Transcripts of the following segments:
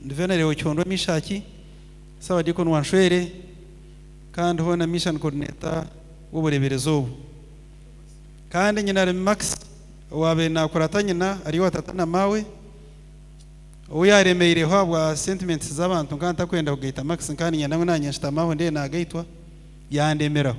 Ndi Venereu Ocondwa Mishaki, Ssabadiikoni wa Nshwere kandi hoona Mission Coordinator w'obureeberezi obu. Kandi nyina Remi Max owaabaire naakurata nyina ari owa tata na maawe, ou yaaremeireho ahabwa sentiments z'abantu nkaba ntakwenda kugaita Max nkaba niinyenda ngu naanye nshutame ahu ndeebe naagaitwa, yandemeraho.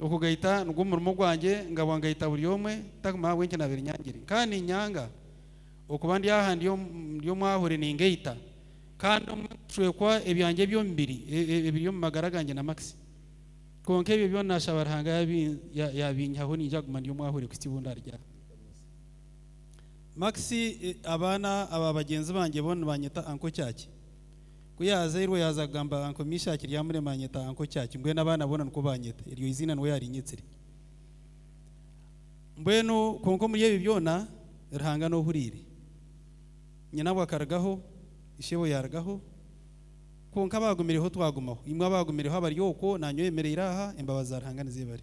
Okugaita nigwo murimo gwangye, ngabwa ngaita buri omwe, ntakumanya ahabw'enki naabaire nyangire. Nkaba niinyanga okuba ndi aha ndi omwahure ningaita, kandi obumwe nkaashwekwa ebyangye eby'omubiri ebiri omu magara gangye na Max. Kwonka ebyo byona naashaba Ruhanga yaabinyihaho niinyija kuguma ndi omwahure kuhitsya obu ndaarugire aha. Max, Abaana aba bagyenzi bangye boona nibanyeta Uncle Kyakye. Ku yaazairwe, yaaza kugamba aha nkomi Ishaaki ryamurema anyeta aha nkoki aki? Mbwenu abaana boona nikwo baanyeta, eryo eiziina niwe yaarinyetsire. Mbwenu kwonka omuri ebi byona, Ruhanga niwe ohuriire. Nyinabwe akarugaho, ishebwe yaarugaho, kwonka abaagumireho twagumaho. Imwe abaagumireho abari okwo, naanye oyemereire aha, embabazi za Ruhanga nizeebare.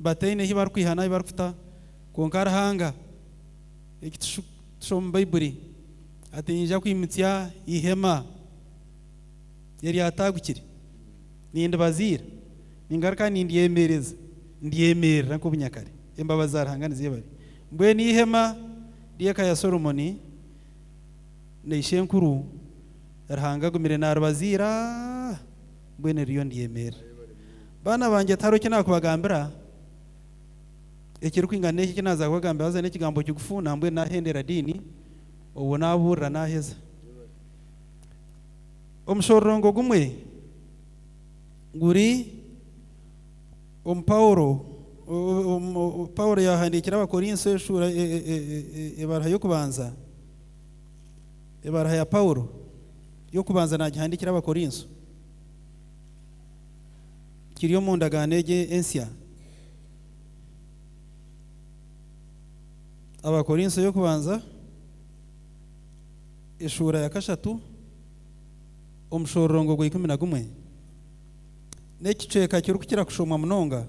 bataine ahi barikwiha n'ahi barikuta. Kwonka Ruhanga, eki tushoma omu Baibuli, ati, Ninyija kwimutsya eihema eryataagukire, nindibaziira, ningaruka nindyemereza, ndyemerera nk'obu nyakare. Embabazi za Ruhanga nizeebare! Mbwenu eihema ry'eka ya Solomoni na ishenkuru, Ruhanga agumire naaribaziira. Mbwenu eriyo ndyemerera. Baana bangye, tihariho eki naakubagambira ekirikwingana n'eki eki naaza kubagambira, haza n'ekigambo kigufu, nambwenu naahendera diini, obwo naabuurira naaheza. Omushororongo gumwe guri omu Paulo, Paulo yaahandiikira Abakorinso eshuura, ebaruha y'okubanza. Ebaruha ya Paulo y'okubanza naagihandiikira Abakorinso. Kiri omu ndagaano egi ensya. Abakorinso y'okubanza, eshuura ya kashatu, omushororongo gwa ikumi na gumwe. N'ekicweka kirikukira kushomwa munonga.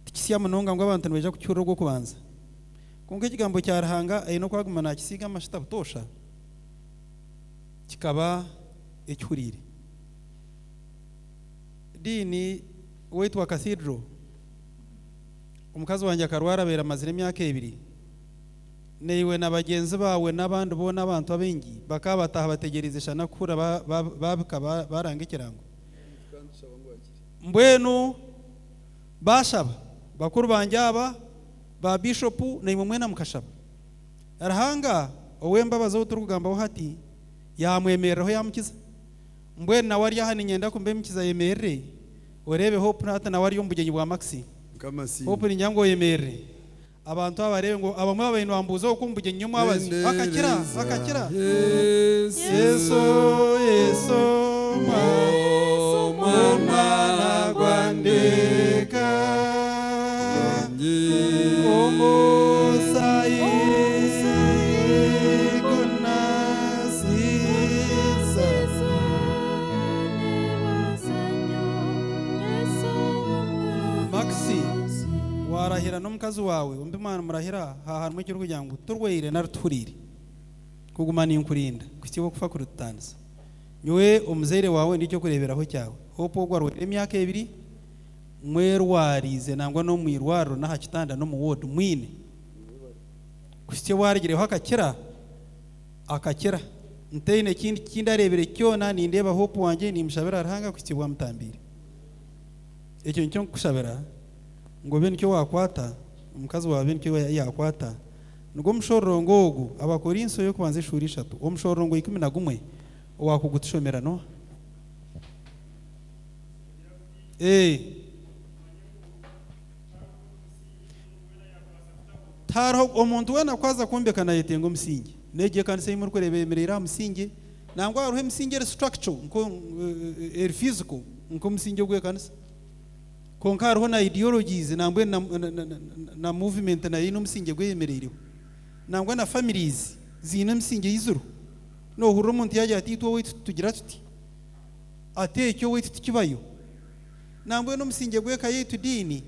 Tikisya munonga ngu abantu nibaija kukihurira ogw'okubanza. Kwonka Ekigambo kya Ruhanga aine oku aguma naakisiiga amashuta butoosha, kikaba ekihuriire. Dean, ow'eitwa Cathedral, Omukazi wangye akarwara abaire amazire emyaka ebiri. Naiwe na bagyenzi baawe n'abandi boona abantu abaingi bakaba bataaha bategyereize shana kuhurira baabika baaranga ekirango. Mbwenu baashaba bakuru bangye aba. Ba Bishopu naimwe mwena mukashaba. Ruhanga ow'embabazi ou turikugambaho hati yaamwemereraho yaamukiza. Mbwenu nawe ari aha niinyenda kumuba emikiza ayemerere. Oreebe Hope hati nawe ari omu bugyenyi bwa Maxine. Hope niinyenda ngu oyemerere abantu abo bareebe ngu abamwe babaire nibambuuza okwo omu bugyenyi ny'omwabazi akakira, akakira. Yesu, Yesu, Omwana gwa Ndeeka. Omusaayi gunaaziisa Maxi, waarahira n'omukazi waawe ombi mwaamurahira, haaha harimu ekirikugira ngu turwaire nari tuhuriire, kuguma ninkurinda kuhitsya okufa kuritutandisa. Nyowe omuzaire waawe ndi ky'okureeberaho kyawe. Hope ogwo arwaire emyaka ebiri. mwerwariize nangwa n'omu irwariro n'aha kitanda n'omu woodi mwine kuhitsya owaarugireho akakira, akakira. Ntaine ekindi ki ndareebire kyona, nindeeba Hope wangye, niimushabira Ruhanga kuhitsya obu amutambiire. Ekyo nikyo nkukushabira ngu obe nikyo waakwata, omukazi waawe abe nikyo yaakwata. Nigwo mushororongo ogu, Abakorinso ey'okubanza eshuura ishatu, omushororongo ikumi na gumwe, owaakugutushomera, Noa. Ee. Tiharoho omuntu weena ku aza kwombeka naayetenga omusingi. N'egi ekanisa ei murikureeba eyemereire aha musingi, nangwa hariho emisingi eri structural, nko, e, eri physical, nk'omusingi ogw'ekanisa. Kwonka hariho na ideologies, nangwa na, na, na, na, na movement nayo eine omusingi ogu eyemereireho. Nangwa na families ziine emisingi ei ziriho. Noohurira omuntu yaagira ati, Itwe owaitu tugira tuti. Ati, Ekyo owaitu tikibayo. Nambwenu omusingye gw'eka yaitu diini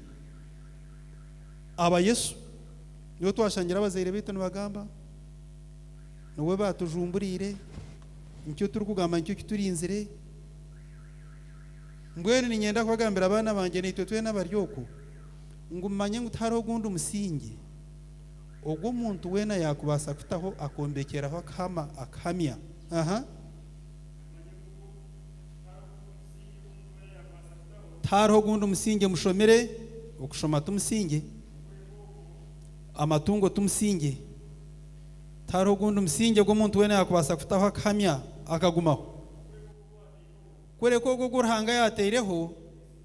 aba Yesu. Niwe twashangire abazaire baitu nibagamba, niwe baatujumbureire, nikyo turikugamba nikyo kiturinzire. Mbwenu niinyenda kubagambira abaana bangye naitwe twena abari oku, ngu mumanye ngu tihariho gundi musingye ogu omuntu weena yaakubaasa kutaho akombekyeraho akahama akahamya. Aha. Tihariho gundi musingye mushomire, okushoma ti musingye, amatungo ti musingye. Tihariho gundi musingye ogu omuntu weena yaakubaasa kutaho akahamya akagumaho, kureka ogwo ogu Ruhanga yaateireho.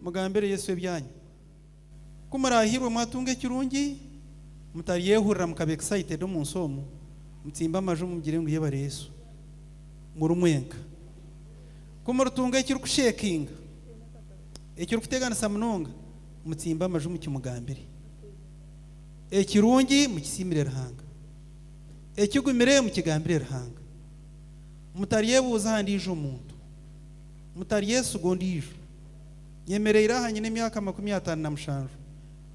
Mugambire Yesu ebyanyu. Ku muraahirwe mwatunga ekirungi, mutaryehurira mukaba excited omu nsi omu, mutsimbe amaju mugire ngu Yebare Yesu. Muri mwenka. Ku muritunga ekirikushekinga, ekirikuteganisa munonga, mutsimbe amaju mukimugambire. Ekirungi mukisiimire Ruhanga. Ekigumire mukigambire Ruhanga. Mutaryebuuza aha ndiijo muntu. Mutaryesiga ondiijo. Nyemereire aha nyine emyaka makumi ataano na mushanju.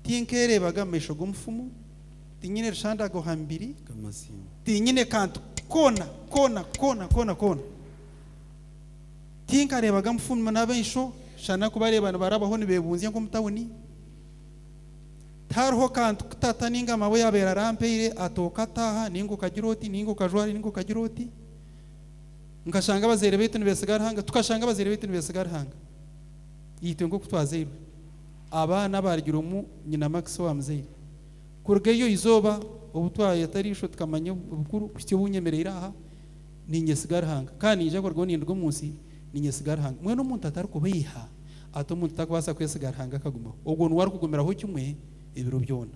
Tinkeereebaga mu maisho g'omufumu. Tinyine rushandagwa aha mibiri. Tinyine kantu koona koona koona koona koona. Tinkareebaga mufumu n'amaisho shana kubareeba nibarabaho nibeebunzya nk'omu tauni. Tihariho kantu ku tata nainga maama yaabaire arampaire, ati okataaha nainga okagira oti nainga okajwara nainga okagira oti. Nkashanga abazaire baitu nibesiga Ruhanga, tukashanga abazaire baitu nibesiga Ruhanga. Itwe nk'oku twazairwe, abaana abaarugire omu nyina Max owa muzaire. Kuruga eryo izooba obu twayeta eriisho tukamanya obukuru kuhitsya obu nyemereire aha, niinyesiga Ruhanga. Ka niija kurugaho ninduga omu nsi, niinyesiga Ruhanga. Mbwenu omuntu atarikubeiha ata omuntu takubaasa kwesiga Ruhanga akagumaho? Ogwo niwe arikugumiraho kimwe ebiro byona.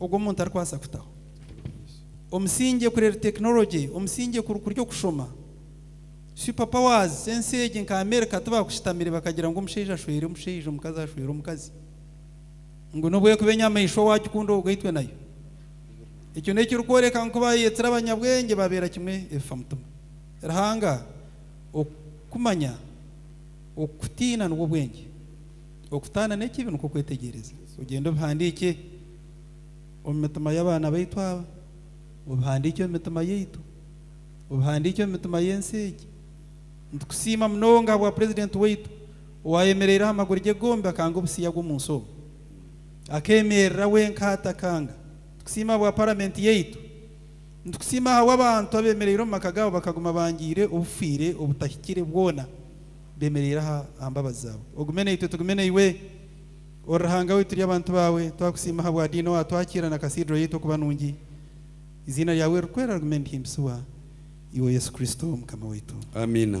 ogu omuntu arikubaasa kutaho omusingye kureeba tekinologye, omusingye kurikuri okushoma. Super powers z'ensi egi nka Amerika tibaakushitamire bakagira ngu omushaija ashwere omushaija, omukazi ashwere omukazi. Ngu n'obu erikuba enyamaishwa waagikunda oruga itwe nayo. Ekyo n'ekirikworeka ngu ku baayeetsire abanyabwengye baabeera kimwe ebifa mutima. Ruhanga, okumanya, okutiina nibwo bwengye. Okutaana n'ekibi nikwo kwetegyereza. Ogyende obihandiikye omu mitima y'abaana baitu aba, obihandiikye omu mitima yaitu, obihandiikye omu mitima y'ensi egi. Nitukusiima munonga ahabwa Purezidenti waitu owaayemereire aha maguru ge gombi akanga obusiiya bw'omu nsi obu. Akeemerera wenka atakanga. Nitukusiima ahabwa Paramenti yaitu. Nitukusiima ahabw'abantu abeemereire omu maka gaabo bakaguma bangiire obufiire obutahikire bwona. Bemereire aha aha mbabazi zaawe. Ogume naitwe tugume naiwe. Ori Ruhanga waitu turi abantu baawe. Twakusiima ahabwa Diina owaatwakiira na Cathedral yaitu okuba nungi. Eiziina ryaawe ririkwera rigume nirihimbisibwa. Iwe Yesu Kristo Mukama waitu. Amiina.